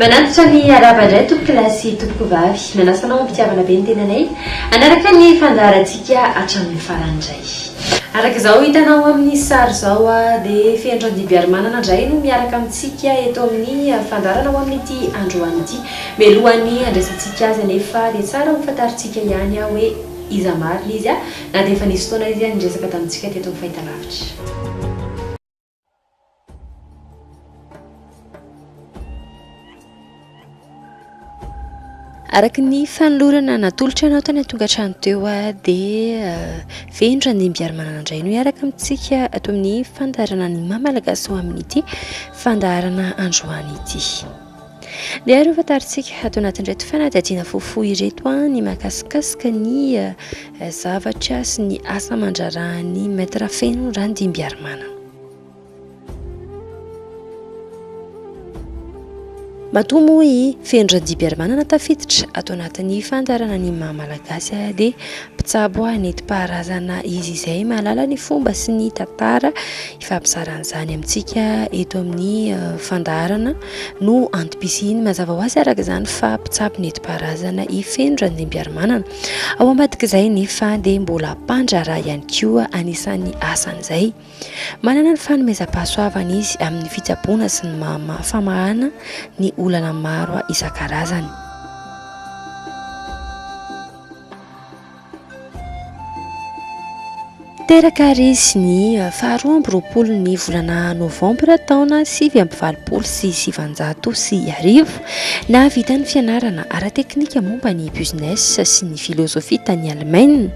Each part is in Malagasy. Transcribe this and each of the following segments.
Manantitra ny harava indray tompoko lahy sy tompoko vavy. Manasa anao am-pitiavana be ny tenanay hanaraka ny fandaharantsika hatramin'ny farany indray. Araka izao hitanao amin'ny sary izao dia Fehindran-dibiarimanana indray no miaraka amintsika eto amin'ny fandaharana ho amin'ity androany ity. Mialohan'ny handraisantsika azy anefa dia tsara ho fantarintsika ihany hoe iza marina izy na dia efa nisy fotoana izy niresaka tamintsika teto amin'ny fahitalavitra. Araka ny fanolorana natolotra anao tany an-tonga trano teo ah, dia ah, venitra ny mbiarimana andray no hiaraka amintsika ato amin'ny fandaharana ny mamalagasy ho amin'ity fandaharana androany ity. Miaro ho fantarintsika ato anatin'ireto fanadihadiana fohifohy ireto ny mahakasikasika ny zavatra sy ny asa aman-draharahan'ny Maître Feno Randimbiarimanana. Matoa moa i Feno Randimbiarimanana tafiditra ato anatin'ny fandaharana ny maha malagasy ahy dia mpitsabo nentim-paharazana izy izay mahalala ny fomba sy ny tantara Hifampizarana izany amintsika eto amin'ny fandaharana no antom-pisiany. Mazava ho azy araka izany fa mpitsabo nentim-paharazana i Feno Randriampiarimanana. Ao ambadik'izay nefa dia mbola mpandraharaha ihany koa anisan'ny asan'izay. Manana ny fanomezam-pahasoavana izy amin'ny fitsaboana sy ny famahana ny olana maro isan-karazany. Teraka àry izy ny faharoa amby roapolo ny volana novambra taona sivy amby valopolo sy sivanjato sy arivo. Nahavita ny fianarana ara-teknika momba ny Business sy ny Filôzôfia tany Alemaina.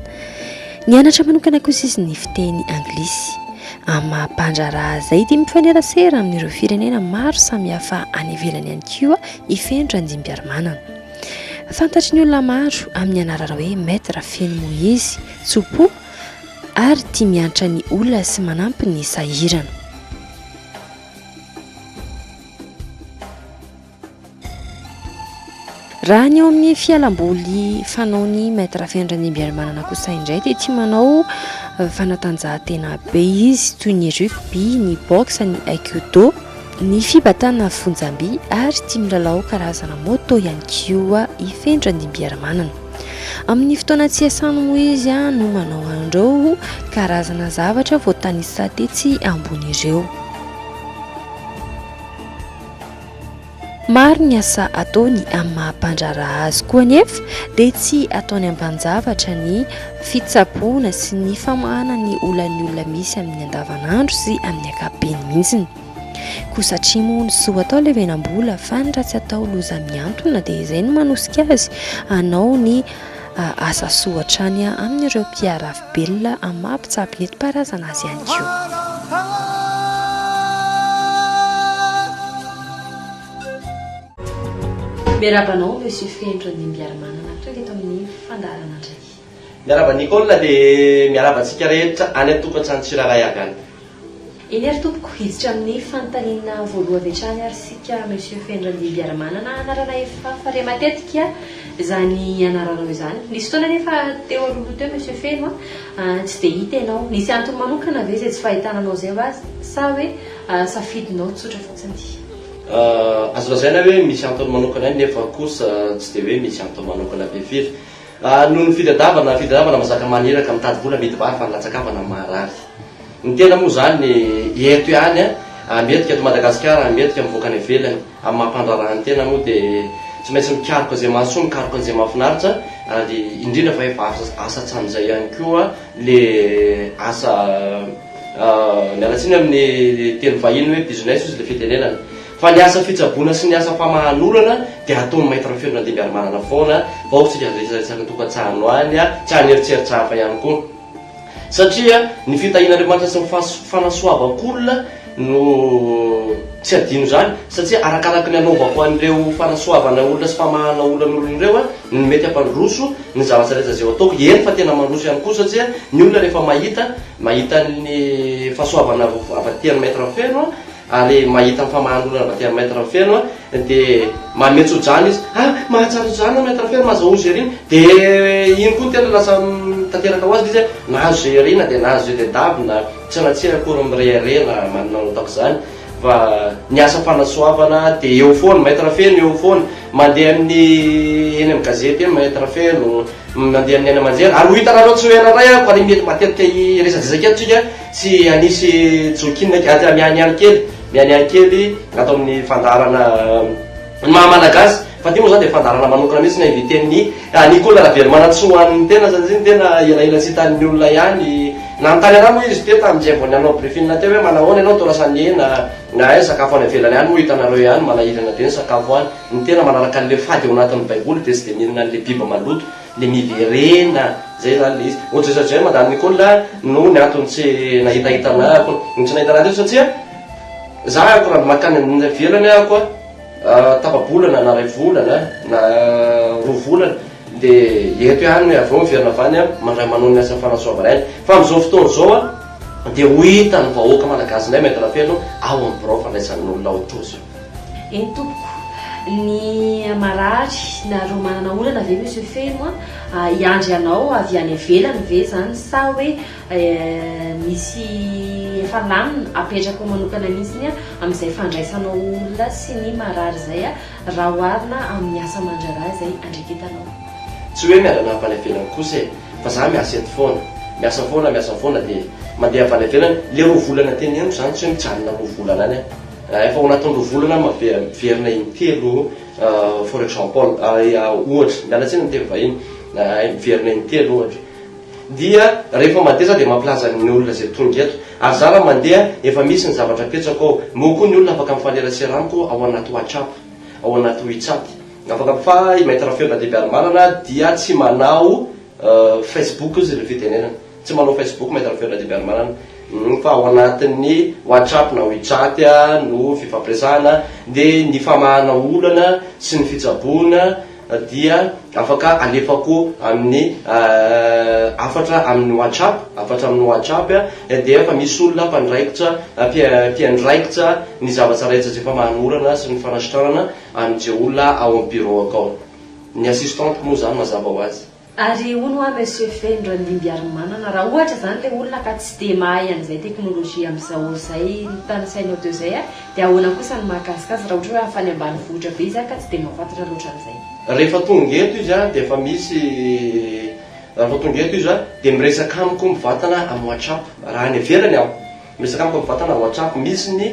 Nianatra manokana kosa izy ny fiteny anglisy. Amin'ny maha-mpandraharaha izay dia mifanerasera amin'ireo firenena maro samihafa any ivelany ihany koa i Feno Randriampiarimanana. Fantatry ny olona maro amin'ny anarana hoe Maître feno Moise, tso-po ary tia miantra ny olona sy manampy ny sahirana. Raha ny eo amin'ny fialamboly fanaony maître Feno Randriambiarimanana kosa indray dia tia manao eh, fanatanjahantena be izy toy ny rugby, ny boxe, ny aikido. Ny fibatana fonjam-by ary tia milalao karazana moto ihany koa i Fenitra Ndimbiaramanana. Amin'ny fotoana tsy iasany moa izy no manao an'ireo karazana zavatra voatanisa tetsy ambony ireo. Maro ny asa ataony amin'ny maha-mpandraharaha azy koa anefa dia tsy ataony ambanin-javatra ny fitsaboana sy ny famahana ny olan'ny olona misy amin'ny andavanandro sy amin'ny ankapobeny mihitsy. Koa satria moa ny soa atao levenam-bola fa ny ratsy atao loza mihantona dia izay no manosika azy hanao ny asa soa hatrany amin'ireo mpiarafi-belona amin'ny maha mpitsabo nentim-paharazana azy ihany koa. Miarahaba anao Monsieur Feno Randimbiarimanana tonga eto amin'ny fandaharana indray. Miarahaba Nicole dia miarahaba antsika rehetra any an-tokantrano tsirairay avy any. Eny ary tompoko, hiditra amin'ny fanontaniana voaloha avy hatrany ary isika Monsieur Fenrandimbiaramanana anarana efa fare matetika izany anaranao izany. Nisy fotoana anefa teo alohaloha teo Monsieur Feno a, tsy dia hita ianao. Nisy antony manokana ve izay tsy fahitana anao izay va sa hoe safidinao tsotra fotsiny? Azo lazaina hoe misy antony manokana ihany nefa kosa tsy dia hoe misy antony manokana be firy. Noho ny fitadiavana fitadiavana mazaka maniraka mitady vola amidy vary fa ny latsakavana marary ny tena moa izany eto ihany a mendrika eto Madagasikara mendrika mivoaka any ivelany amin'ny maha mpandraharaha ny tena moa dia tsy maintsy mikaroka izay mahasoa mikaroka an'izay mahafinaritra ary indrindra fa efa asa hatramin'izay ihany koa le asa miala tsiny amin'ny teny vahiny hoe business ozy le fitenenana Fa ny asa fitsaboana sy ny asa famahanorana dia hataon'ny Maître Feno Randimbiarimanana foana fa ao tsika resaresaky ny tokantsahano any tsy any eritseritra hafa ihany koa. Satria ny fitahian'Andriamanitra sy ny fanasoavan-kolona no tsy adino izany satria arakaraky ny anaovako an'ireo fanasoavana olona sy famahana olan'olona ireo no mety hampandroso ny zavatra rehetra izay ho ataoko, eny fa tena mandroso ihany koa satria ny olona rehefa mahita mahita ny fahasoavana avy aty an'i Maître Feno ary mahita ny famahanolona avy aty amin'ny Maître Feno a, dia manome tso-drano izy, ah! mahatsiaro tso-drano aho Maître Feno, mahazo aoa Jerry, dia iny koa no tena lasa tanteraka ho azy ilay izy hoe nahazo Jerry na dia nahazo Jededab na tsy na tsia akory mirehareha na manana an'io tahaka izany fa ny asa fanasoavana dia eo foana, Maître Feno eo foana, mandeha amin'ny eny amin'ny gazety eny Maître Feno, mandeha amin'ny haino aman-jery, ary ho hitanareo tsy ho ela indray aho, fa ilay mety matetika hiresadresaka eto tsika, Tsy hanisy jokinina kely, aza mihaniany kely, mihaniany kely raha atao amin'ny fandaharana ny maha Malagasy. Fa ity moa izany dia fandaharana manokana mihitsy na inviten'ny Nicola Ravelomanantsoa ho an'ny tena satria ny tena elaela tsy hitan'ny olona ihany. Nanontany anah moa izy teo tamin'izay vao nanao briefing teo hoe manao ahoana ianao Tora Saniena na aiza sakafo any ivelany any moa hitanareo ihany manahirana be ny sakafo any. Ny tena manaraka an'ilay fady ao anatin'ny baiboly dia tsy dia mihinana an'ilay biby maloto. Le miverena zay zany le izy. Ohatry zay satria Madame Nicole a no ny antony tsy nahitahita anah akory. Ny tsy nahita anah teto satria zah akory raha makany any ivelany ah akory ah tapa-bolana na ray volana na roa volana de eto ihany avy eo miverina avy any ah mandray manao ny asa fanasoavana aina. Fa amzao fotoana zao ah de ho hitan'ny vahoaka malagasy indray mahetra feno ao amin'ny birao fandraisan'ny olona ao Tojo. Eny tompoko, ny marary na ireo manana olana ve Monsieur Feno a, hiandry anao avy any ivelany ve izany sa hoe misy efa lamina apetrako manokana mihitsy a amin'izay fandraisanao olona sy ny marary izay a, raha oharina amin'ny asa aman-draharaha izay andraiketanao? Tsy hoe miala-na avy any ivelany kosa e, fa za miasa eto foana, miasa foana, miasa foana dia mandeha avy any ivelany, le roa volana teny amiko izany tsy hoe mijanona roa volana any aho. Raha efa ao anatin'ny roa volana miverina in-telo for example ohatra, miala tsiny ny teny vahiny, miverina in-telo ohatra, dia rehefa mandeha za dia mampilaza ny olona izay tonga eto, ary za raha mandeha efa misy ny zavatra apetrako ao, moa koa ny olona afaka mifanerasera amiko ao anaty whatsapp, ao anaty wechat, afaka mifaha i Maître Feo na DBarmalana dia tsy manao. Facebook izy no fitenenana. Tsy manao Facebook Maître Feo Radibiarimanana hum fa ao anatin'ny WhatsApp na WeChat no fifampiresahana dia ny famahana olana sy ny fitsaboana dia afaka alefako amin'ny hafatra amin'ny WhatsApp, hafatra amin'ny WhatsApp dia efa misy olona mpandraikitra mpiandraikitra ny zava-tsaraitsa izay famahana olana sy ny fanasitranana an'izay olona ao amin'ny bureau-ko ao. Ny assistante moa zany mazava ho azy. Ary hono hoa Monsieur Feno Randimbiarimanana, raha ohatra zany le olona ka tsy dia mahay an'izay teknolojia amzao zay notanisainao teo zay a, de ahoana kosa ny mahakasika azy raha ohatra hoe avy any ambanivohitra be izy a ka tsy dia mahafantatra loatra an'izay? Rehefa tonga eto izy a de efa misy, rehefa tonga eto izy a de miresaka amiko mivantana am WhatsApp, raha any ivelany aho, miresaka amiko mivantana am WhatsApp, misy ny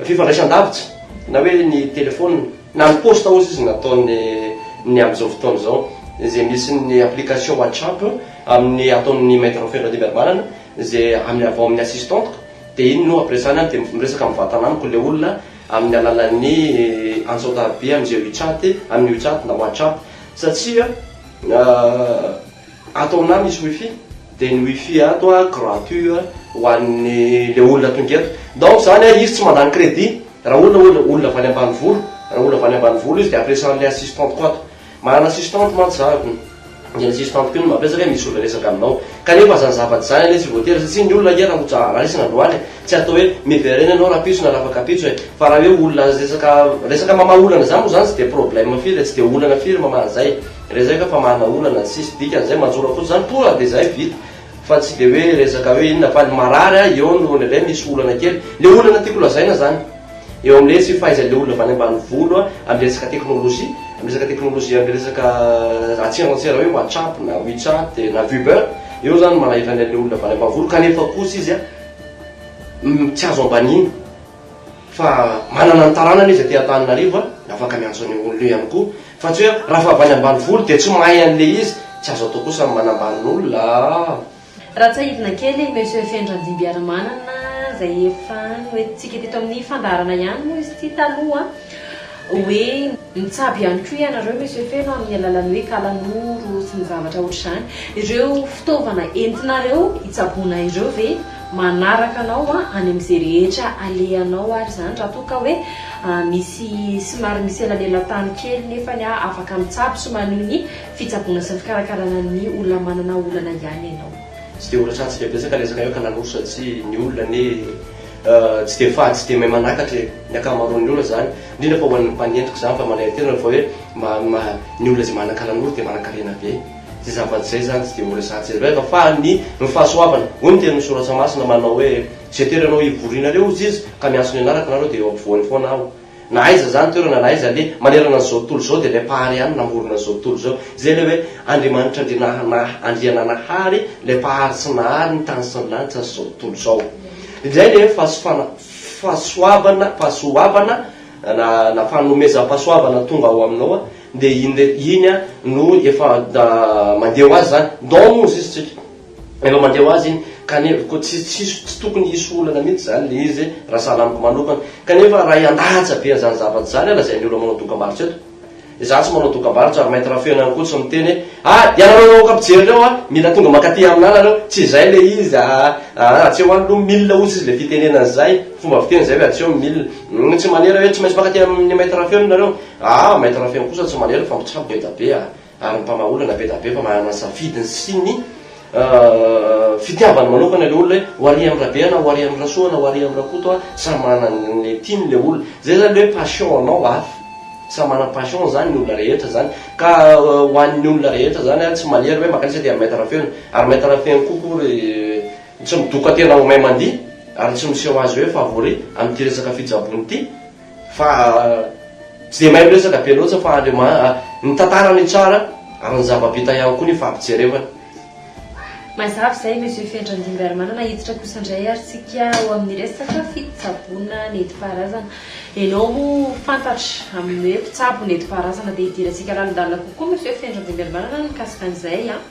Fifandraisan-davitra, na hoe ny telefaonina, na ny posta ozy izy nataony ny amin'izao fotoana izao, izay misy ny application WhatsApp amin'ny ataon'ny Maître Feno Randriambiarimanana izay amin'ny avy ao amin'ny assistante-ko dia iny no ampiresany ahy dia miresaka mivantana amiko ilay olona amin'ny alalan'ny antsaon-tariby amin'izay WeChat, amin'ny WeChat na WhatsApp satria. Ato aminah misy wifi dia ny wifi ato a gratuit ho an'ny le olona tonga eto donc zany a izy tsy mandany crédit raha olona olona olona avy any ambanivolo raha olona avy any ambanivolo izy dia ampiresany ilay assistante ko ato manana assistante mantsy za ary ny an'ny assistante ko no mampiresaka hoe misy olona hiresaka aminao kanefa zany zavatra zany anie tsy voatery satsia ny olona ange raha ho ja- raha resaka androany tsy atao hoe miverena ianao raha pitsony raha afaka pitsy e fa raha hoe olona resaka resaka mamaha olana zany moa zany tsy dia problème firy e tsy dia olana firy mamaha an'izay e. Resaka famahana olana tsy misy dikany zay manjora fotsiny zany tonga de zay vita fa tsy de hoe resaka hoe inona fa ny marary a eo no indraindray misy olana kely le olana tiako lazaina zany eo amle tsy fahaizanle olona avy any ambanivolo a amle resaka teknolojia am resaka teknolojia am resaka atsera antsera hoe whatsapp na wechat na viber eo zany manahirany anle olona avy any ambanivolo kanefa kosa izy a tsy azo ambaniny Fa manana ny taranany izy aty Antananarivo a, dia afaka miantso an'io olona io ihany koa. Fa tsy hoe raha fa avy any ambanivolo dia tsy mahay an'ilay izy. Tsy azo atao kosa ny manambany olona a! Raha tsiahivina kely i Monsieur Fendra Ndibiaramanana izay efa noentintsika teto amin'ny fandaharana ihany moa izy ity taloha hoe. Mitsabo ihany koa ianareo Monsieur Feno amin'ny alalan'ny hoe kalanoro sy ny zavatra ohatr'izany. Ireo fitaovana entinareo hitsaboana ireo ve manaraka anao any amin'izay rehetra alehanao ary izany raha toa ka hoe misy somary misy elanelan-tany kely nefany afaka mitsabo sy maneho ny fitsaboana sy ny fikarakarana ny olona manana olana ihany ianao? Tsy dia ho latsahantsika betsaka resaka hoe kalanoro satsia ny olona anie. Tsy dia fady tsy dia mahay manakatra e! Ny ankamaroan'ny olona izany, indrindra fa ho an'ny mpanentiko izany fa manaiky tena fa hoe ny olona izay manakana an'olona dia manankarena be. Izay zava-tsy izay izany tsy dia ho resahantsika izay loatra fa ny ny fahasoavana. Hoy ny tenin'ny Soratra Masina manao hoe, Izay toerana ho hivorianareo, hoy Jiosy, ka miantso ny anarako ianareo dia eo ampovoany foana aho. Na aiza izany toerana na aiza anie, manerana an'izao tontolo izao dia ilay Mpahary ihany namorona an'izao tontolo izao. Izay ilay hoe Andriamanitra Andrianahana Andriananahary, ilay Mpahary sy Nahary ny tany sy ny lanitra sy izao tontolo izao. Indray ilay hoe fahasofana, fahasoavana, fahasoavana na na fanomezam-pahasoavana tonga ao aminao an, dia iny re, iny an no efa mandeha ho azy izany. Dans nous izy tsika. Efa mandeha ho azy iny ka ny heviko tsy tsisy tsy tokony hisy olana mihitsy izany le izy raha sahala amiko manokana. Kanefa raha hiandatsa be an'izany zavatra izany aho lazain'ny olona manao dokambarotra eto. Izaho tsy manao dokambarotra ary mainty rafeno ihany koa tsy miteny hoe ah ianareo vahoaka mpijery ireo ah mila tonga mankaty aminah nareo tsy izay le izy ah ah atseo any aloha mille hozy izy le fitenenana izay fomba fiteny izay hoe atseo mille umm tsy manera hoe tsy maintsy mankaty amin'ny mainty rafeno nareo ah mainty rafeno kosa tsy manera fa mitsabo eda be ah. Ary ny mpamaha olana be da be fa manana ny safidiny sy ny fitiavany manokana le olona hoe ho ary amin'i Rabe aho na ho ary amin'i Rasoa na ho ary amin'i Rakoto aho, samy manana an'le tiany le olona. Zay zany le hoe passion anao avy, samy manana passion zany ny olona rehetra zany ka ho an'ny olona rehetra zany a tsy manery hoe mankaiza aty amin'ny maître Rafeno ary maître Rafeno koa ko ry tsy midoka tena ho may mandihy ary tsy miseho azy hoe favori amin'ity resaka fijabony ity, Fa tsy dia mahay miresaka be loatra fa Andriama ny tantara no tsara ary ny zava-bita ihany koa ny fampijerevana. Mazava izay Monsieur Fenitra Andimbiarimanana, hiditra kosa indray ary tsika ao amin'ny resaka fitsaboana nentim-paharazana. Ianao moa fantatra amin'ny hoe mpitsabo nentim-paharazana dia hidirantsika lalindalina kokoa Monsieur Fenitra Andimbiarimanana mikasika an'izay an!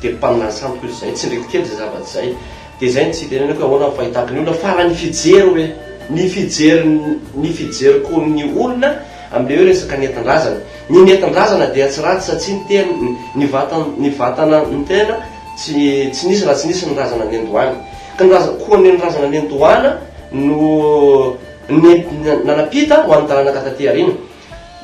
Dia mpaminany sandoka io izay tsindriko kely izay zava-tsy izay. Dia izay no tsy hitenenako hoe ahoana ny fahitako ny olona fa raha ny fijery hoe, ny fijery ny fijeriko ny olona amin'ilay hoe resaka nentin-drazana. Ny nentin-drazana dia tsy ratsy satsia ny tena, ny vatan, ny vatana, ny tena tsy, tsy nisy raha tsy nisy ny razana nendohana. Ka ny razana, koa ny razana nendohana no nentina, nanam-pita ho an'ny taranaka taty aoriana.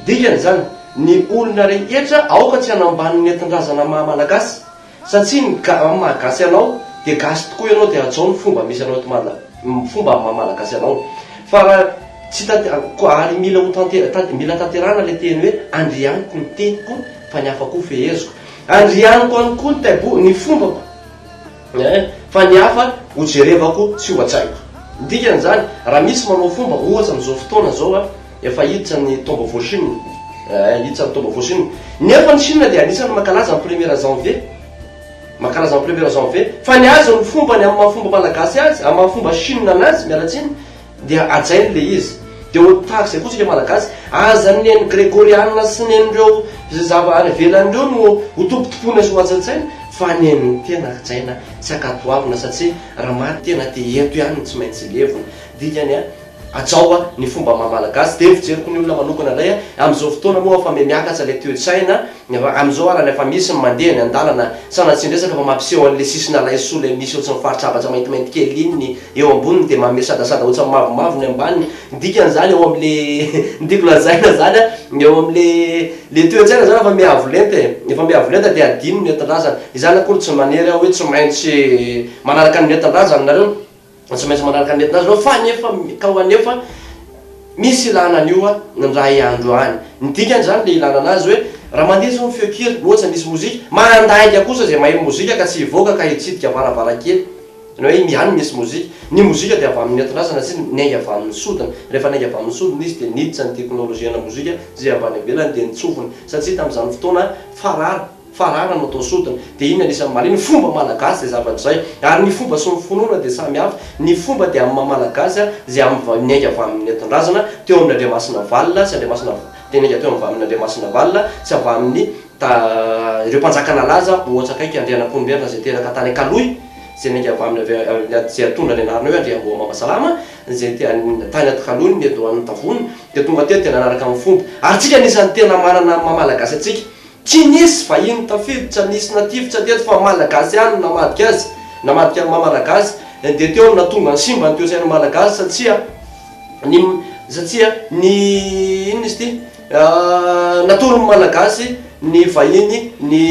Dikan'izany, ny olona rehetra aoka tsy hanambany ny nentin-drazana maha Malagasy, satsia ny ga amin'ny maha gasy anao dia gasy tokoa ianao dia hajao ny fomba misy anao eto Mada ny fomba amin'ny maha Malagasy anao fa raha tsy tat ko ary mila ho tantera tat mila tanterahana ilay teny hoe Andrianiko ny teniko fa ny hafa koa feheziko Andrianiko ihany koa ny taibo ny fombako. Hein, fa ny hafa ho jerevako tsy ho atsaiko. Ny dikan'izany, raha misy manao fomba, ohatra amin'izao fotoana izao a, efa hiditra ny taom-baovao Chine, eh, hiditra ny taom-baovao Chine. Nefa ny Chine dia anisan'ny mankalaza ny première janvier, mankalaza ny première janvier, fa ny azy, ny fombany amin'ny maha-fomba malagasy azy, amin'ny maha-fomba Chine anazy, miala tsiny, Dia hajainy ilay izy. Dia ho tahaka izay koa isika Malagasy, aza ny nen'ny Gregoriana sy nen'ireo izay zava any ivelany ireo no ho tompotompoina sy ho hajainjaina, fa nen'ny tena hajaina sy ankatoavina satsia raha maty tena dia eto ihany no tsy maintsy levona. Dikany an, hajao an, ny fomba maha Malagasy. Dia ny fijeriko ny olona manokana indray an, amin'izao fotoana moa efa mihamiakatra ilay toe-tsaina, efa amin'izao arany efa misy ny mandeha eny an-dalana, sanatria ny resaka fa mampiseho an'ilay sisin'Alaisoa ilay misy eo tsy ny faritr'Abaja maintimainty kely iny, Eo amboniny dia manome sadasada otsa mavomavo ny ambaniny. Ny dikany zany ao am le ny tiako lazaina zany a, ny ao am le le toetsaina zany efa miavo lenta e, efa miavo lenta dia adino ny entindrazana. Izany akory tsy manery aho hoe tsy maintsy manaraka ny entindrazana nareo, tsy maintsy manaraka ny entindrazana nareo fa nefa ka ho anefa misy ilana an'io a indray andro any. Ny dikany zany le ilana anazy hoe raha mandeha zao ny feon-kira, otsa misy mozika, mandainga kosa zay mahay mozika ka tsy hivoaka ka hitsidika varavarankely. Ny hoe Indian misy mozika. Ny mozika dia avy amin' ny nentin-drazana sy ny ainga avy amin' ny sodina. Rehefa ny ainga avy amin' ny sodina izy dia niditra ny teknolojia ana mozika izay avy any ivelany dia nitsofina satsia tamin' izany fotoana farara farara no atao sodina dia iny ny anisan' ny mahaliana ny fomba malagasy izay zavatra izay ary ny fomba sy ny finoana dia samy hafa ny fomba dia amin' ny maha malagasy izay amin' ny ny ainga avy amin' ny nentin-drazana teo amin' ny Andriamasinavalona sy Andriamasina dia ny ainga teo amin' ny Andriamasinavalona sy avy amin' ny Da ireo mpanjaka nalaza ohatsa akaiky Andrianankohimberina izay teraka tany Ankalohy, izay niainga avy aminy avy izay atondra ny anarana hoe Andriamboamamasalama, izay tany Atkalohy ny eto Anatavony, dia tonga teto dia nanaraka ny fomba. Ary tsika anisany tena manana amin'ny maha Malagasy antsika. Tsy nisy vahiny tafiditra, nisy natifitra teto fa Malagasy ihany no namadika azy, namadika ny maha Malagasy, dia teo no nahatonga ny simba ny toesain'ny Malagasy satsia ny satsia ny inona izy ity? Natoron'ny Malagasy ny vahiny ny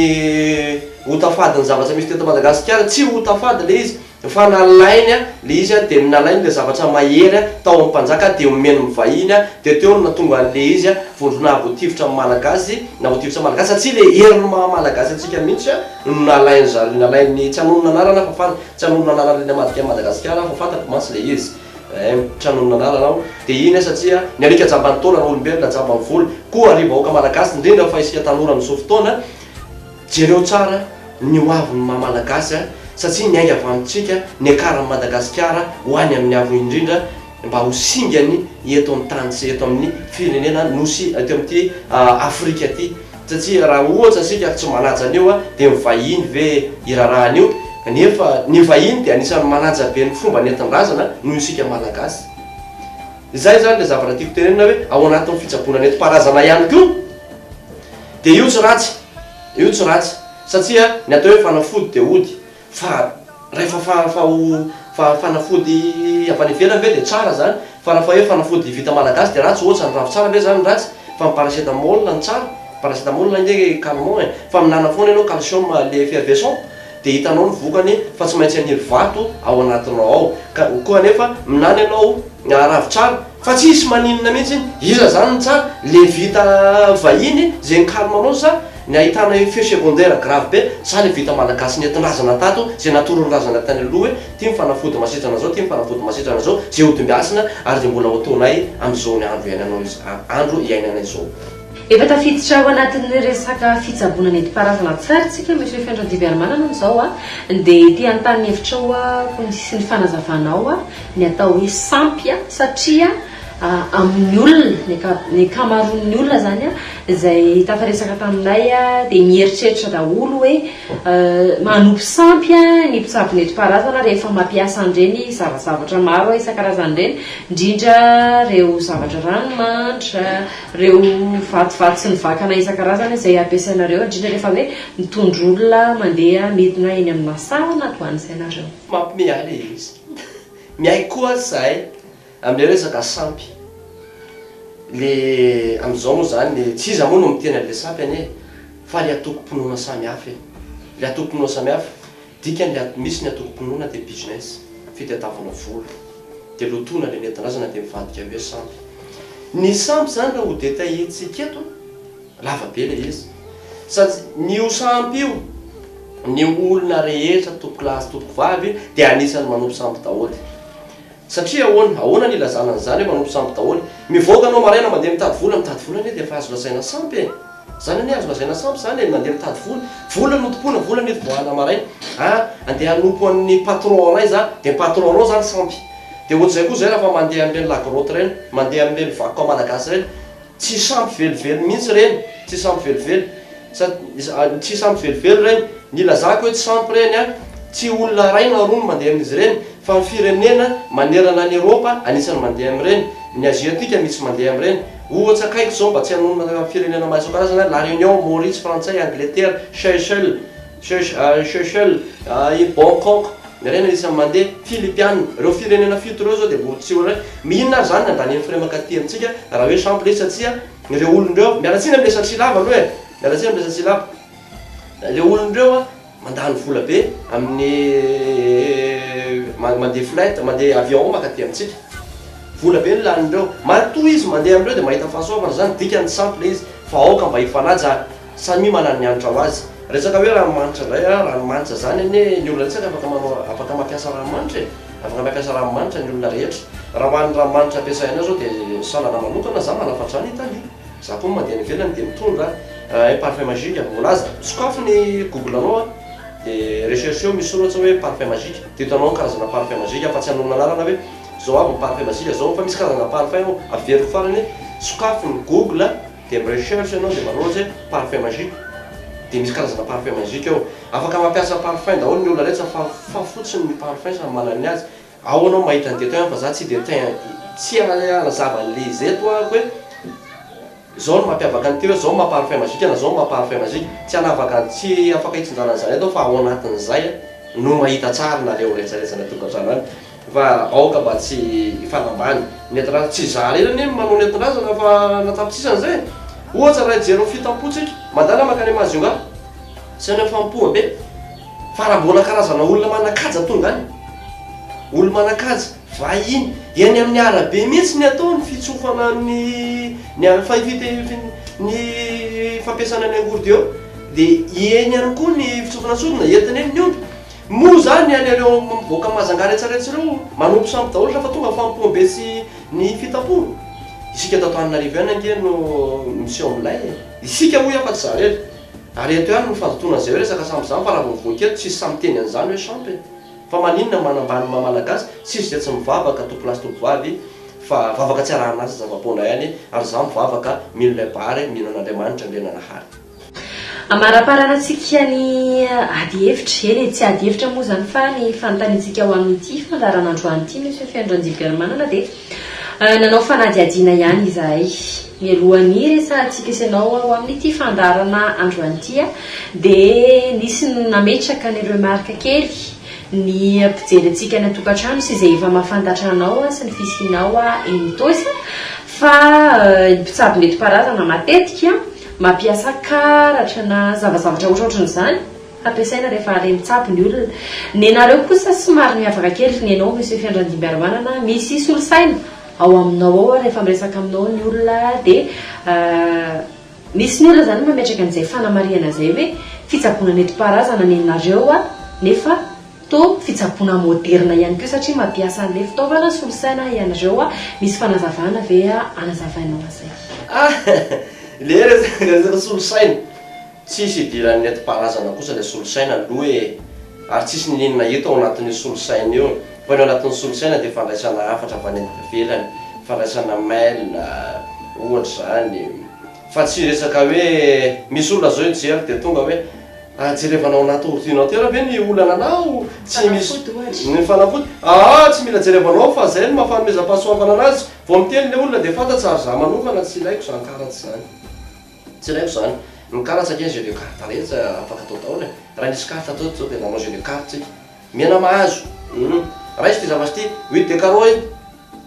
ho tafadin'ny zavatra misy teto Madagasikara, tsy ho tafady ilay izy fa nalainy ilay izy dia nalainy ilay zavatra mahery tao amin'ny mpanjaka dia omeny ny vahiny dia teo no nahatonga an'ilay izy vondrona avy ho tifitra amin'ny Malagasy na ho tifitra Malagasy satria ilay herin'ny maha Malagasy antsika mihitsy no nalain'zareo, nalain'ny, tsy hanonona anarana aho fa, tsy hanonona anarana ilay namadika an'i Madagasikara aho fa fantatro mantsy ilay izy. Eeh misaotra noho ny nanala anao. Dia iny aza tsia, ny alika jamban'ny taona no olombelona jamban'ny vola. Koa ry vahoaka malagasy indrindra fa isika tanora mizoa fotoana, jereo tsara ny ho avin'ny maha malagasy an, satsia miainga avy amintsika, niakaran'i Madagasikara ho any amin'ny avo indrindra mba ho singany eto amin'ny tany sy eto amin'ny firenena nosy eto amin'ity Afrika ity. Satria raha ohatra isika tsy manaja an'io dia ny vahiny ve hiraraha an'io? Kanefa ny vahiny dia anisan'ny manaja be ny fomba nentin-drazana noho isika Malagasy. Izay izany ilay zavatra tiako tenenina hoe ao anatin'ny fitsaboana nentim-paharazana ihany koa dia io tsy ratsy, io tsy ratsy satria ny atao hoe fanafody dia ody. Fa rehefa fa fa ho fa fanafody avy any ivelany ve dia tsara zany? Fa raha fa hoe fanafody vita malagasy dia ratsy ohatsa ny ravitsara ve zany ratsy? Fa ny paracetamol no tsara? Paracetamol ange calmant e! Fa mihinana foana ianao calcium lait effervescent dia hitanao ny vokany fa tsy maintsy haniry vato ao anatinao ao ka koa anefa mihinana ianao ravitsara Fa tsisy maninona mihitsy, iza zany ny tsara? Le vita vahiny ze ny calme anao sa ny ahitana effet secondaire grave be sa le vita malagasy nentin-drazana tato ze natoroan'ny razana tany aloha hoe ty ny fanafody masitrana zao ty ny fanafody masitrana zao ze hodimb'asina ary ze mbola ho ataonay am'zao ny andro iainanao izao andro iainanay izao. Efa tafiditra ao anatin'ny resaka fitsaboana nentim-paharazana an-tsary tsika Monsieur Feno Rajiviarimanana amin'izao a, dia te hanontany ny hevitrao aho sy ny fanazavanao ny atao hoe sampy a, satria amin'ny olona, ny anka, ny ankamaroan'ny olona izany a, izay tafaresaka taminay a, dia mieritreritra daholo hoe manopy sampy ny mpitsabo nentim-paharazana rehefa mampiasa an'ireny zava-zavatra maro isan-karazany ireny, indrindra ireo zavatra ranomanitra, Ireo vatovato sy ny vakana isan-karazany izay ampiasainareo, indrindra rehefa hoe mitondra olona mandeha midina eny aminà saha na toa an'izay nareo. Mampimeahy ilay izy. Miaiky koa izahay amin'ilay resaka sampy. Ilay amin'izao moa izany, ilay tsy iza moa no miteny an'ilay sampy anie fa ilay antokom-pinoana samihafa e. Ilay antokom-pinoana samihafa. Dikany le ato misy ny atomponoana de business, fitadiavana vola. De lotoina le nentindrazana de mivadika hoe sampy. Ny sampy zany raha ho detailler-tsika eto, lava be le izy. Sady ny ho sampy io, ny olona rehetra, tompokolahy sy tompokovavy, de anisany manompo sampy daholy. Satria ahoana? Ahoana ny ilazana an'izany hoe manompo sampy daholo? Mivoaka anao maraina mandeha mitady vola, mitady vola anie dia efa azo lazaina sampy e! Izany anie azo lazaina sampy izany e, ny mandeha mitady vola. Vola no tompoina, vola no itobohana maraina. An, andeha hanompo an'ny patron anay za, dia ny patron anao izany sampy. Dia ohatr'izay koa izay raha fa mandeha amin'ireny la grotte ireny, mandeha amin'ireny vakoka malagasy ireny, Tsisy ampy velively mihitsy ireny, tsisy ampy velively, tsisy ampy velively ireny, ny ilazako hoe tsisy ampy ireny an, tsy olona iray na roa no mandeha amin'izy ireny fa ny firenena manerana an'i Eropa anisany mandeha amin'ireny, ny Aziatika misy mandeha amin'ireny. Ohatra akaiky izao mba tsy hanonona firenena maro isan-karazany an, La Réunion, Maurice, Frantsay, Angletera, Seychelles, Seychelles, i Bangkok, ny harena dia isan'ny mandeha, Filipiana, ireo firenena fito ireo izao dia mbola tsy oe mi inona ary izany nandanian'ny frais mankaty amintsika raha hoe sample izy satsia ireo olona ireo, miala tsiny amin'ny resaka silava aloha e, miala tsiny amin'ny resaka silava, ireo olona ireo an mandany vola be amin'ny mandeha flight, mandeha avion mankaty amintsika, vola be no lanin'ireo, matoa izy mandeha amin'ireo dia mahita fahasoavana, izany dikany sample izy fa aoka mba hifanaja. Samia manana ny hanitra ho azy. Resaka hoe ranomanitra indray a, ranomanitra zany anie ny olona rehetra afaka manao afaka mampiasa ranomanitra e, afaka mampiasa ranomanitra ny olona rehetra. Raha ho an'ny ranomanitra ampiasainao zao de saonana manokana, za manafatra zany Italie, za koa mandeha any ivelany de mitondra un parfum magique, mbola aza sokafy ny google anao a de rechercher-o misy soratra hoe parfum magique de hitanao ny karazana parfum magique fa tsy hanonona anarana hoe zao aby ny parfum magique zao fa misy karazana parfum ao, averiko farany hoe sokafy ny google. Dia mi-recherche ianao dia manao ohatra hoe parfum magique dia misy karazana parfum magique ao. Afaka mampiasa parfum daholo ny olona rehetra fa fa fotsiny ny parfum samy manana ny azy. Ao ianao mahita ny détail fa za tsy de te tsy hanazava an'le izy eto aho hoe zao no mampiavaka an'ity hoe zao ny maha parfum magique na zao ny maha parfum magique. Tsy hanavaka tsy afaka hitsinjara an'izany eto aho fa ao anatin'izay no mahita tsara nareo rehetra rehetra any an-tokantrano any. Fa aoka mba tsy hifanambany. Ny atindraza, tsy izaho irery anie no manao ny atindrazana fa na tapitrisa an'izay e! Ohatra raha hijery ny fitampoantsika, mandala mankany Majunga, tsy any amin'ny fanompoambe, fa raha mbola karazana olona manan-kaja tonga any, olona manan-kaja, vahiny, eny amin'ny arabe mihitsy ny atao, ny fitsofana ny ny a fa fite fin ny fampiasana ny angorodeo, dia eny ihany koa ny fitsofana sodina, entina eny ny omby. Moa zany ny any ireo vahoaka mazangaha retsaretsa ireo manompo sampy daholo refa tonga fanompoam be sy ny fitapo? Isika eto Antananarivo ihany ange no miseho milay e! Isika hoy aho fa tsy za rery. Ary eto ihany no fandotoana izay hoe resaka sampy izany fa raha vao mivoaka eto tsisy sahy miteny an'izany hoe sampy e! Fa maninona manambany ny maha malagasy? Tsisy izay tsy mivavaka tompon lahy sy tompon vavy fa vavaka tsy arahan'asa zava-poana ihany ary za mivavaka mino lay Bahary mino an'Andriamanitra Andriananahary. Amaraparanantsika ny ady hevitra, eny e, tsy ady hevitra moa izany fa ny fanontaniantsika ho amin'ity fandaharana androany ity, Monsieur Feno-Ranjibiarimanana, dia nanao fanadihadiana ihany izahay. Mialohan'ny hiresahantsika sy ianao ho amin'ity fandaharana androany ity dia nisy nametraka ny remarque kely ny mpijery antsika any an-tokantrano sy izay efa mahafantatra anao sy ny fisianao eny Itaosy fa ny mpitsabo nentim-paharazana matetika Mampiasa karatra na zavazavatra hoatraohatran'izany hampiasaina rehefa hale mitsabo ny olona. Nenareo kosa somary miavaka kely nenao Monsieur Fiandrandimbiarimanana, misy solosaina ao aminao ao rehefa miresaka aminao ny olona dia misy ny olona izany mametraka an'izay fanamarihana izay hoe fitsaboana nentim-paharazana nenareo nefa Toa fitsaboana moderina ihany koa satria mampiasa an'ilay fitaovana solosaina ianareo a! Misy fanazavana ve anazavainao an'izay? Ah! Ilay resaka solosaina, tsisy idiran'ny nentim-paharazana kosa ilay solosaina aloha e! Ary tsisy n'inon'inona hita ao anatin'io solosaina io, fa ny ao anatin'ny solosaina dia fandraisana hafatra avy any ivelany, fandraisana mail ohatra izany, fa tsy resaka hoe misy olona izao hijery dia tonga hoe An jerevana ao anaty ordinateur ve ny olana anao tsy misy ny fanafody aa tsy mila jerevana ao fa zay no maha fanomezam-pahasoavana anazy vao miteny le olona de fantatsa ary za manokana tsy ilaiko zany karats zany tsy ilaiko zany ny karats ange jeu de carte rehetsa afaka atao daolo e raha nisy carte teo zao de nanao jeu de carte tsika miaina mahazo humm raiso ty zavatra ty oui de carreau iny.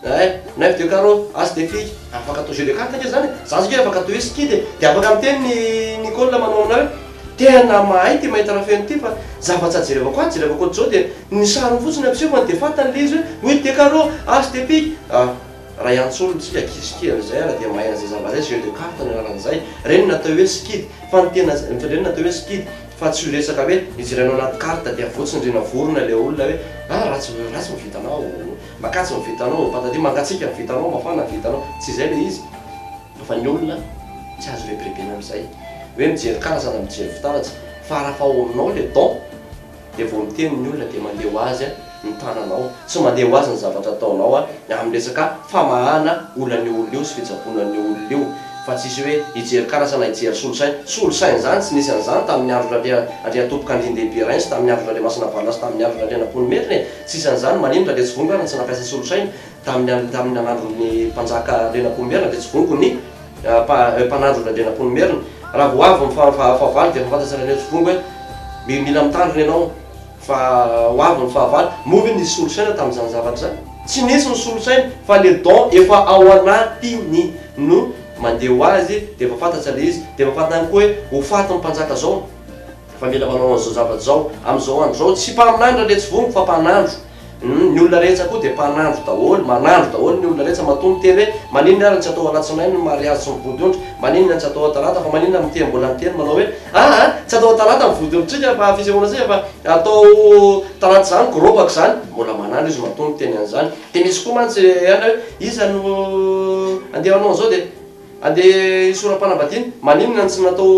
Eh! Naivo de Caro as de fille afaka atao jeu de carte ve zany e? Za zao nge afaka atao hoe skid e! De afaka miteny ny Nicole manao aminao hoe tena mahay ty mahita rafeno ty fa zava-tsa jerevako atsy jerevako ats'zao dia ny sariny fotsiny ampisehofany de fantany le izy hoe oui de Caro as de fille ah! Raha iantsolo tsika kiss ki an'izay ara dia mahay an'izay zava-zay jeu de carte no anarany zay reny natao hoe skid fa ny tena zay reny natao hoe skid fa tsy io resaka hoe ijerena anaty carte dia avotsiny rina vorona le olona hoe ah! ratsy ratsy ny vitanao. Makatso ny vitanao, ny patadia mangatsiaka ny vitanao, mafana ny vitanao, tsy izay ilay izy fa ny olona tsy azo rebirebena amin'izay hoe mijery kalasa na mijery fitaratra fa raha fa ao aminao ilay don dia vao miteny ny olona dia mandeha ho azy ny tananao, tsy mandeha ho azy ny zavatra ataonao amin'ny resaka famahana olan'io olona io sy fitsaboana an'io olona io fa tsisy hoe hijery kalasa na hijery solosaina, solosaina izany tsy nisy an'izany tamin'ny andron'Andriantompokandriandehibe Rainy sy tamin'ny andron'Andriamasinavalona sy tamin'ny andron'Andrianampoinimerina e! Tsy isan'izany, maninona dia tsy voniko ary ny tsy nampiasa solosaina tamin'ny an tamin'ny nanandron'ny mpanjaka Andrianampoinimerina dia tsy voniko ny mpa mpanandron'i Andrianampoinimerina. Raha vao avy ny fa fa fahavalo dia efa fantatsa ireny hoe tsy voniko hoe mi mila mitandrina ianao fa ho avy ny fahavalo. Moa ve nisy solosaina tamin'izany zavatra izany? Tsy nisy ny solosaina fa le don efa ao anatiny no mandeha ho azy dia efa fantatsa le izy dia efa fantatany koa hoe ho fatin'ny mpanjaka zao. Fa mila manao an'izao zavatra izao amin'izao andro izao. Tsy mpaminany raha letsy vongo fa mpanandro. Ny olona rehetsa koa dia mpanandro daholo. Manandro daholo ny olona rehetsa. Matoa miteny hoe maninona ary no tsy atao alatsinainy ny mariazy sy ny vodiondry? Maninona no tsy atao atalata? Fa maninona miteny mbola miteny manao hoe aa tsy atao atalata ny vodiondrintsika fa fisehoana tsika fa atao talata izany gorobaka izany? Mbola manandro izy matoa miteny an'izany. Dia misy koa mantsy any hoe iza no andeha hanao an'izao dia. Andeha hisoram-panambadiana? Maninona no tsy natao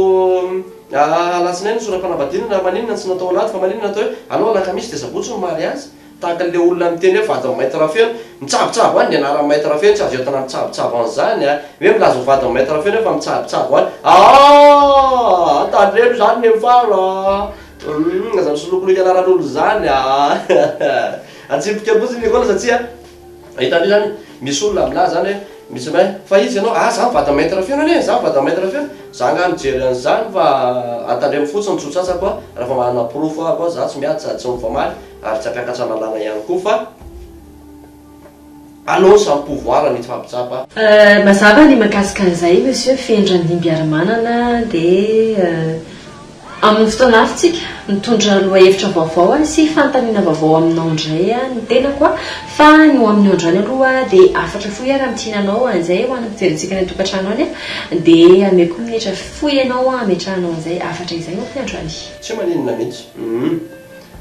alatsinainy ny soram-panambadiana na maninona no tsy natao alahady fa maninona atao hoe aleo alakamisy dia sabotsy no mariazy? Tahaka an'ilay olona miteny hoe vadin'i Maître Rafeno. Mitsabo-tsabo any ny anaran'i Maître Rafeno tsy azo entina mitsabo-tsabo an'izany a! Hoe milaza ho vadin'i Maître Rafeno hoe fa mitsabo-tsabo any. Aahh! Tandremo izany ny faly a! Aza misolokolika anaran'olona izany a! Atsipika fotsiny ny Nicolas satsia. A hitanao izany, misy olona milaza izany hoe, misy hoe, fa izy ianao, ah, izaho vady maître feo, nene, izaho vady maître feo, izaho angaha mijery an'izany fa antandremo fotsiny ny tsotsasako a, raha vao manana porofo aho koa, izaho tsy miady sady tsy mifamaly ary tsy hampiakatra lalàna ihany koa fa allons samy pouvoir ny hifampitsapa. Euh, mazava ny mahakasika an'izay Monsieur Fendrandimbiarimanana dia euh. Amin'ny fotoana avy tsika mitondra lohahevitra vaovao sy fanontaniana vaovao aminao indray aho ny tenako fa ny ho amin'io androany aloha dia hafatra fohy aho raha mikiana anao an'izay ho an'ny fijerentsika any an-tokantrano any aho dia ameko minitra fohy anao hametrahanao an'izay hafatra izay ho fohy androany. Tsy maninona mihitsy. Humm.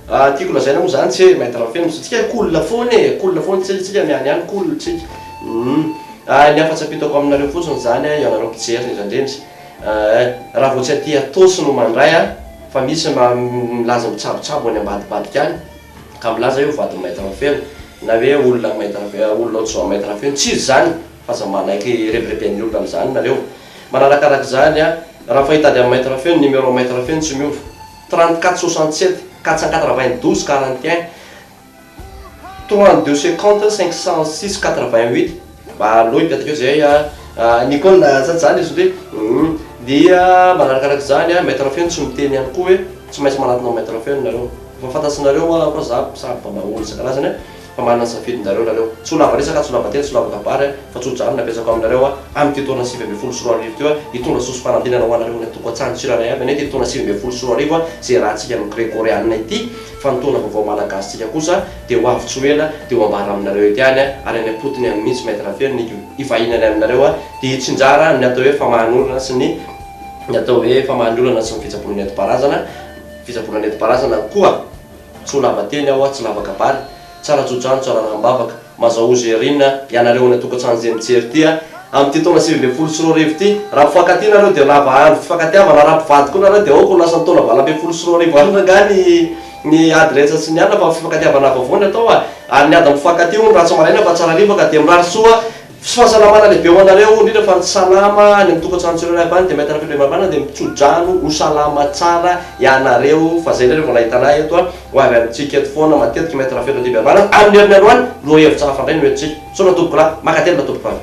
Tiako lazaina moa izany tse Maître Feno fa tsika cool foana e, cool foana tse tsika miany any cool tsika. Humm. Ny hafa tsy ampitako aminareo fotsiny izany ianareo mpijery indrindra indrindra Ahh raha vao tsy aty atosy no mandray a! Fa misy ma milaza ho tsabotsabo any ambadibadika any ka milaza hoe ho vadin'i Maître Rafeno na hoe olona an'i Maître Rafeno, olona ohatr'izao an'i Maître Rafeno, tsy izy izany fa aza manaiky rebireben'ny olona amin'izany nareo. Manarakaraka izany a! Raha fahita ady amin'i Maître Rafeno, numéro an'i Maître Rafeno tsy miova, 34 67, 484 20 12 41. Trois deux cinquante cinq cent six quatre vingt huit mba aleo hipetraka eo izay a Nicole na zany zany izy ndry humm dia manarakaraka izany a maitre feno tsy miteny ihany koa hoe tsy maintsy manatona maitre feno nareo efa fantatsinareo hoa koa za samy mba mahomby isan-karazany a fa manana ny safidinareo nareo tsy ho lava resaka tsy ho lava teny tsy ho lava kabary a fa tsodrano ny apetrako aminareo a amin'ity taona sivy ambin'ny folo sy roa arivo ity hoa hitondra soa sy fanantenana ho anareo ny antoko an-tsandry tsirairay avy any ity taona sivy ambin'ny folo sy roa arivo a izay raha antsika amin'ny gregoriana ity Fa ny taona vaovao malagasintsika kosa dia ho avy tsy ho ela dia ho ambara aminareo ety ihany ary any am-potony any mihitsy Maître Rafeloniko hivahiny any aminareo dia hitsinjara ny atao hoe famahan'olana sy ny ny atao hoe famahan'ny olana sy ny fitsaboana nentim-paharazana fitsaboana nentim-paharazana koa tsy ho lava teny aho tsy lava kabary Tsara jojano tsara rahambavaka. Mazahoo Gerine a! Ianareo any an-tokantrano izay mijery ity a! Amin'ity taona sivy ambin'ny folo sy roa arivo ity, raha mpifankatia nareo dia lava andro fifankatiavana, raha mpivady koa nareo dia aoka ho lasan'ny taona valo ambin'ny folo sy roa arivo any rangahy ny ny ady rehetra sy ny alina fa fifankatiavana vaovao ny atao a! Ary ny ady amin'ny mpifankatia hono ratsy maraina fa tsara hariva ka dia mirary soa Tsy fahasalamana lehibe ho anareo, indrindra fa ny salama any amin'ny tokantrano tsirairay avy any dia mahita an'ireo fandriampahalemana dia mitsodrano ho salama tsara ianareo fa izay nareo vao nahita anay eto a, ho avy amintsika eto foana matetika Maître Rafeto Andriambiavana, amin'ny herin'ny androany roa hevitra hafa indray no entintsika. Misaotra tompoko lahy. Makatelina tompoko avy.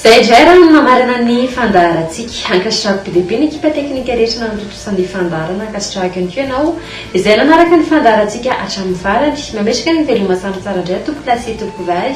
Izay indray ary no namarana ny fandaharantsika. Ankasitrahako be dia be ny ekipa teknika rehetra nanatontosa ny fandaharana, ankasitrahako ihany koa ianao izay nanaraka ny fandaharantsika hatramin'ny farany. Mametraka ny veloma samy tsara indray tompokolahy sy tompokolahy.